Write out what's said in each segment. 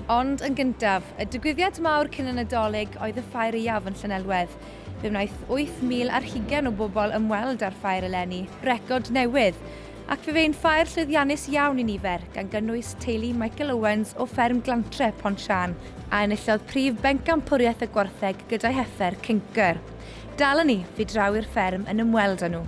Ond yn gyntaf, y digwyddiad mawr cyn y Nadolig oedd y Ffair Iaf yn Llanelwedd. Fe wnaeth 8,000 ar hugain o bobl ymweld â'r ffair eleni, record newydd! Ac fe fe'n ffair llwyddiannus iawn i nifer, gan gynnwys teulu Michael Owens o fferm Glantre, Pont Siân, a enillodd prif bencampwriaeth y gwartheg gyda'i heffer cynker. Dalon ni, fu draw i'r fferm yn ymweld â nhw.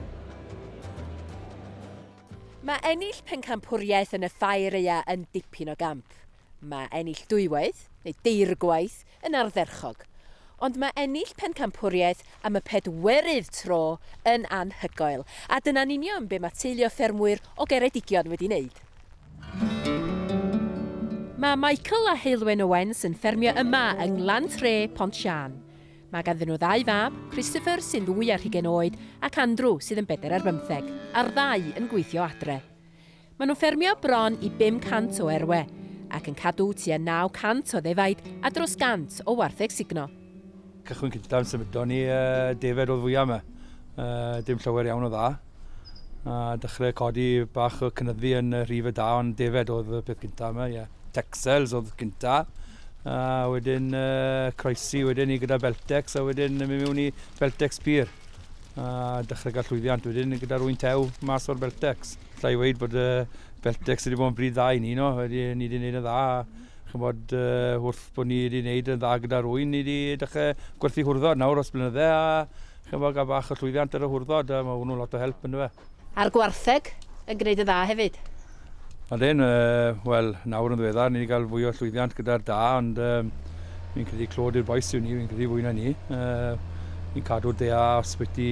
Mae ennill pencampwriaeth yn y Ffair-Aea yn dipyn o gamp. Mae ennill dwywaith, neu deirgwaith, yn ardderchog. Ond mae ennill pencampwriaeth am y pedwerydd tro yn anhygoel, a dyna'n union be mae teulu o ffermwyr o Geredigion wedi wneud. Mae Michael a Heulwen Owens yn ffermio yma yng Nglan Tre, Pont Siân. Mae ganddyn nhw ddau fab, Christopher, sy'n ddwy ar hugain oed, ac Andrew, sydd yn bedair ar bymtheg, a'r ddau yn gweithio adre. Maen nhw'n ffermio bron i 500 o erwe, ac yn cadw tua 900 o ddefaid a dros 100 o wartheg sugno. Cychwyn cyntaf, symudon ni, yy, defaid oedd fwya 'ma. Yy, dim llawer iawn o dda. A dechrau codi bach o cynyddu yn y rhif y da, ond defed oedd y peth gyntaf yma, ie. Yeah. Texels oedd gyntaf. A wedyn uh, croesi wedyn ni gyda Beltex, a wedyn mi mewn i Beltex Pur. A dechrau gael llwyddiant wedyn gyda rwy'n tew mas o'r Beltex. Llai weid bod uh, Beltex wedi bod yn bryd dda i ni, no? Wedi, ni wedi gwneud yn dda. Chymod, uh, wrth bod ni wedi gwneud yn dda gyda rwy'n, ni wedi dechrau gwerthu hwrdod nawr os blynydde, a Ch'mod ga'l bach o llwyddiant ar y hwrdod yy ma' hwnnw'n lot o help on'd yfe? A'r gwartheg yn gneud yn dda hefyd? Odyn yy wel nawr yn ddiweddar ni 'di ga'l fwy o llwyddiant gyda'r da ond yym fi'n credu clod i'r bois yw ni fi'n credu fwy na ni yy ni'n cadw'r da sbyty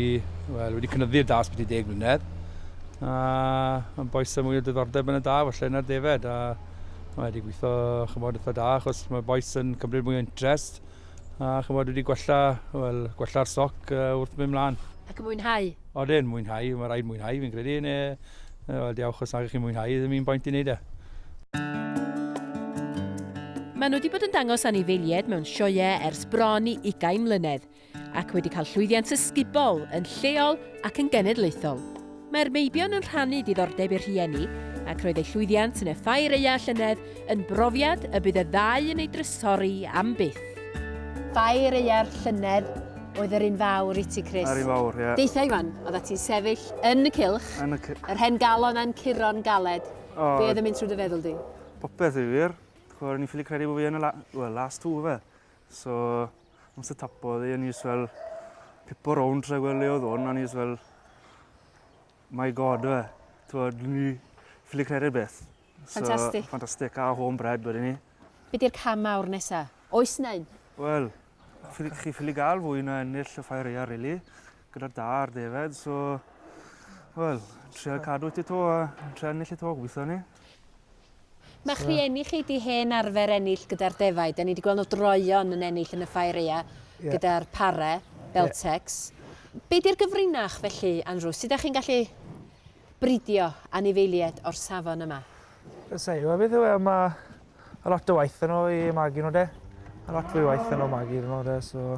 wel wedi cynyddu'r da sbyty deg mlynedd a ma'n bois â mwy o diddordeb yn y da falle na'r defed a mae wedi gwitho ch'mod itha da achos ma' bois yn cymryd mwy o interest A chymod, wedi gwella, wel, gwella'r stoc uh, wrth mynd mlaen. Ac yn mwynhau? Oedden, mwynhau, mae rhaid mwynhau fi'n credu, neu, wel, diawch os nag chi'n mwynhau, ddim i'n boint i wneud e. Maen nhw wedi bod yn dangos anifeiliaid mewn sioeau ers bron i ugain mlynedd, ac wedi cael llwyddiant ysgubol yn lleol ac yn genedlaethol. Mae'r meibion yn rhannu diddordeb i'r rhieni, ac roedd eu llwyddiant yn effau Reia a llynedd yn brofiad y bydd y ddau yn ei drysori am byth. Fai Reia'r llynedd oedd yr un fawr i ti, Chris. Yr un fawr, ie. Deitha Iwan, oedda ti'n sefyll yn y cylch, yn y yr hen galon a'n curo'n galed. Oh. Be oedd yn mynd trwy dy feddwl di? Popeth i wir. O'n i'n ffili credu bod fi yn y la well, last two fe. So, Ond se tapodd i, o'n i fel pipo rownd tra gweld le oedd hwn, o'n i fel, my god, fe. Twod, ni ffili credu'r beth. Ffantastig. So, ffantastig, a home bread wedyn ni. Be di'r cam mawr nesa? Oes nain? Wel, chi ffili gael fwy na ennill y ffair eia, really. gyda da'r defaid, so... Wel, trio cadw ti to a trio ennill ti to, gweithio ni. Mae chi ennill chi di hen arfer ennill gyda'r defaid, a ni wedi gweld nhw droion yn ennill yn y ffair ea yeah. gyda'r pare, Beltex. Yeah. Be di'r gyfrinach felly, Andrew? Sut ydych chi'n gallu bridio anifeiliaid o'r safon yma? Ysau, mae beth yw e, mae a lot o waith yn o i magu nhw de. A lot fwy waith yn o magu nhw de, so...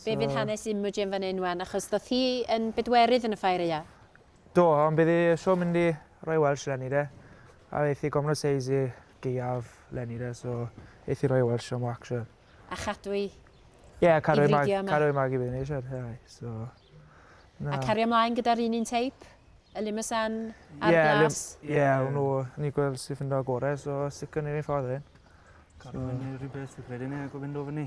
Be fydd hanes Imogen fan hyn wan achos ddoth hi yn bedwerydd yn y ffair ia? Do, ond bydd hi isio mynd i roi Welsh leni de. A eith hi gofnod seis i gaeaf leni de, so eith hi roi Welsh am action. A chadw hi Ie, a cario hi mag, cario hi mag i fyny eisiau, ie, so... A cario mlaen gyda'r un un teip? Y limasan a'r yeah, glas? Ie, yeah, yeah, nhw, ni gweld sy'n ffindo gorau, so sicr ni'n ei ffordd hyn. Cario so... fyny rhywbeth, fi'n credu ni, ac o fynd o fyny.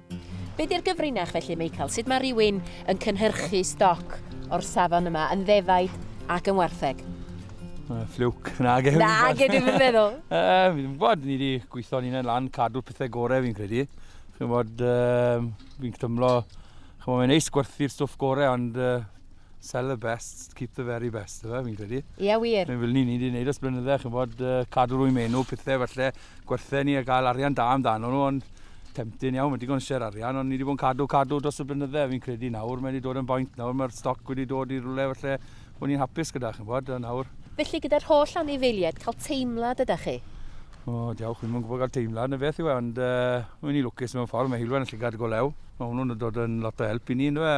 Be di'r gyfrinach felly, Meical? Sut mae rhywun yn cynhyrchu stoc o'r safon yma yn ddefaid ac yn wartheg? Uh, ffliwc. Na, gen Na, gen i'n meddwl. Uh, fi ddim bod, ni wedi gweithio ni'n ei lan, cadw pethau gorau fi'n credu. Chi'n bod, uh, fi'n tymlo, chi'n bod, mae'n neis gwerthu'r stwff gorau, ond uh, sell the best, keep the very best, efe, fi'n credu. Ie, yeah, wir. Mae'n fel ni, ni wedi gwneud os blynyddau, chi'n bod, uh, cadw rwy'n menu, pethau falle, gwerthu ni a gael arian da amdano nhw ond tempting iawn, mae'n digon ser arian ond ni wedi bod yn cadw cadw dros y blynydde fi'n credu nawr mae wedi dod yn boint nawr mae'r stoc wedi dod i rwle falle bod ni'n hapus gyda chi'n bod a nawr Felly gyda'r holl anifeiliaid cael teimlad ydych chi? O, diolch, fi'n mwyn gwybod cael teimlad na beth yw e, ond uh, mae'n ni lwcus mewn ffordd, mae Hilwen yn llygad go lew. Mae hwnnw'n dod yn lot o help i ni, ynddo fe?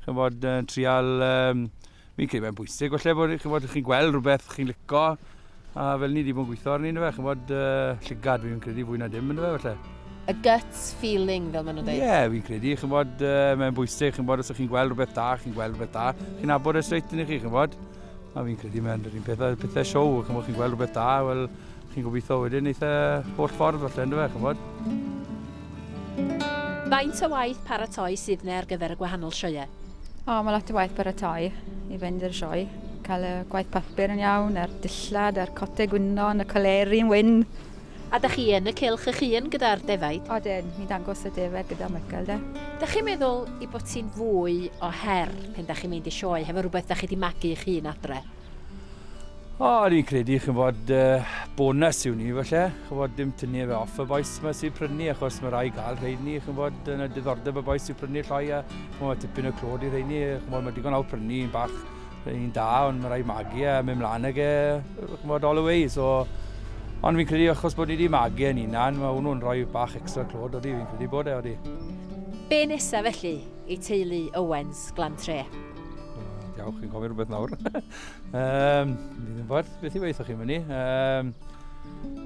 Chyn bod, uh, trial um, Fi'n credu mae'n bwysig, falle bod chymod, chi'n gweld rhywbeth chi'n lico, a fel ni wedi bod yn gweithio arni, fe, chymod, uh, llygad fi'n credu fwy na dim, fe, falle. A gut feeling, fel maen nhw'n dweud. Ie, yeah, fi'n credu, chymod, uh, mae'n bwysig, chymod, os ydych chi'n gweld rhywbeth da, chi'n gweld rhywbeth da, chi'n abod e straight yn chi, chymod. A fi'n credu mae'n yr un pethau, pethau siow, chymod, chi'n gweld rhywbeth da, wel, Chi'n gobeithio wedyn eith e holl ffordd falle ynddo fe, chymod? Faint o waith paratoi sydd ne ar gyfer y gwahanol sioeau? O, mae lot o waith paratoi i fynd i'r sioe. Cael y gwaith papur yn iawn, a'r dillad, a'r cote gwynon, y coleri yn wyn. A da chi yn y cylch eich hun gyda'r defaid? Odyn, ni'n dangos y defaid gyda Michael de. Da chi'n meddwl i bod ti'n fwy o her pen da chi'n mynd i sioe hefo rhywbeth da chi di magu eich hun adre? O, o'n i'n credu, chi'n bod, uh, bonus yw ni, falle. Chi'n bod, dim tynnu fe off y boes yma sy'n prynu, achos mae rai gael rhaid ni, chi'n bod, yn y diddordeb y boes sy'n prynu llai, a chi'n bod, tipyn o clod i rhaid ni, chi'n bod, mae digon awr prynu, yn bach, rhaid ni'n da, ond mae rai magu a mynd mlaen ag e, chi'n bod, all the way, so... Ond fi'n credu, achos bod ni wedi magu yn unan, mae hwnnw'n rhoi bach extra clod, oeddi, fi'n credu bod e, oeddi. Be nesa felly i teulu Owens, Glan Tre? Diolch, chi'n gofyn rhywbeth nawr. um, Fydd yn ffordd, beth i weithio chi fyny. Um,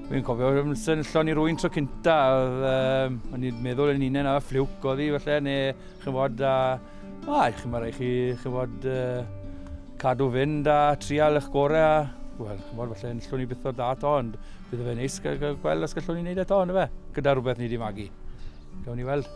Fi'n cofio yn sefyllon i rwy'n tro cynta, oedd, um, o'n i'n meddwl yn unen a ffliwc oedd hi felly, neu chi'n fod, a, a chi'n marai chi, chi'n fod, uh, cadw fynd a trial eich gorau, a, wel, chi'n fod felly, yn llwn i byth o'r da to, ond bydd fe'n neis gweld os gallwn ni'n neud eto, ond fe, gyda rhywbeth ni wedi magu. Gawn ni weld.